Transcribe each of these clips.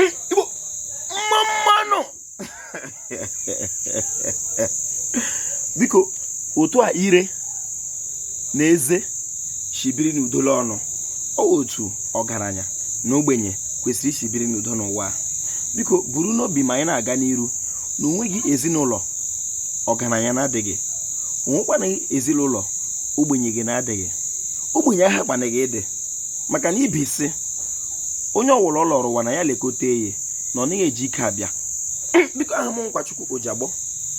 igbo mma mma nụ biko otu a ire na eze shi biri n'udo la ọnụ ọ wụ otu ọgaranya na ogbenye kwesịrị ishi biri n'udo n'ụwa a biko buru n'obi ma anyị na-aga n'iru na o nweghị ezinụlọ ọgaranya na-adịghị o nwekwanaghị ezinụlọ ogbenye gị na-adịghị ogbenye aha kwanaghị ịdị maka na ibi sị onye ọ wụla ọ lọrọ ụwa na ya lekọta eye na ọ naghị eji ike abịa biko aha m nkwachukwu ojiagbọ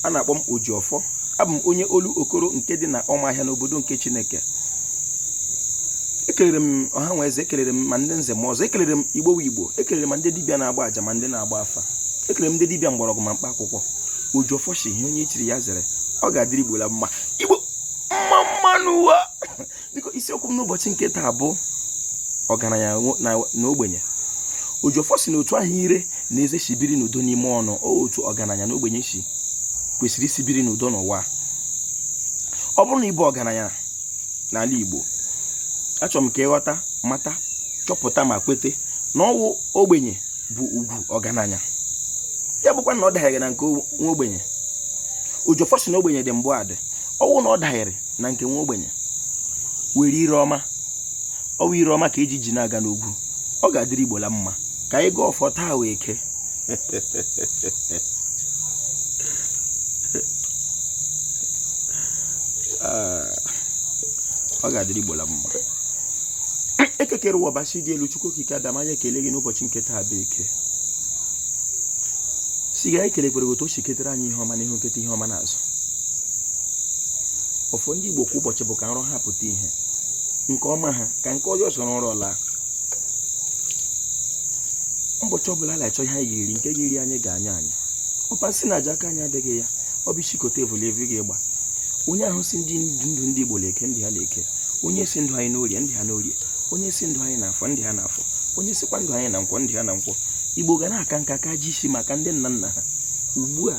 a na-akpọ m oji ọfọ abụ m onye olu okoro nke dị na ọmahịa n'obodo nke chineke ekelere m ọha na eze ekelere m ma ndị nze ma ọzọ ekelere m igbo wụ igbo ekelere m ma ndị dibịa na-agba aja ma ndị na-agba afa ekelere m ndị dibịa mgbọrọgwụ ma mkpa akwụkwọ oji ọfọ sị ihe onye chiri ya zere ọ ga-adịrị igbo la mma igbo mma mma nụ ụwa biko isiokwu m n'ụbọchị nke taa bụ ọgaranya na ogbenye oji ọfọ sị na otu ahụ ire na eze si biri n'udo n'ime ọnụ otu ọgaranya na ogbenye si kwesịrị isi biri n'udo n'ụwa ọ bụrụ na ị bụ ọgaranya n'ala Igbo achọrọ m ka ị ghọta mata chọpụta ma kwete na ọ wụ ogbenye bụ ugwu ọgaranya ya bụkwa na ọ daghịrị na nke nwa ogbenye oji ọfọ sị na ogbenye dị mbụ adị ọ wụ na ọ daghịrị na nke nwa ogbenye were ire ọma ọ wụ ire ọma ka eji ji na-aga n'ogwu ọ ga-adịrị Igbo la mma ka anyị gọọ ọfọ taa wụ eke ah, ọ ga-adịrị Igbo la mma Eke kere ụwa Ọbasị dị elu Chukwu Okike Abịama anyị ekele gị n'ụbọchị nke taa bụ eke sị ga ekele kwere otu o si ketere anyị ihe ọma n'ihu nketa ihe ọma n'azụ ọfọ ndị Igbo kwa ụbọchị bụ ka nrọ ha pụta ihe nke ọma ha ka nke ọjọọ soro nrọ laa ụbọchị ọbụla a na-achọ ihe anyị ga-eri nke ga-eri anyị ga-anya anyị ọpa nsị na aja aka anyị adịghị ya ọ bụ ịchịkọta evu la evu ga-agba onye ahụ sị ndị ndụ ndị Igbo n'eke ndụ ha n'eke onye sị ndụ anyị n'orie ndụ ha n'orie onye sị ndụ anyị n'afọ ndụ ha n'afọ onye sịkwa ndụ anyị na nkwọ ndụ ha na nkwọ Igbo ga na-aka nka ka ji isi maka ndị nna nna ha ugbu a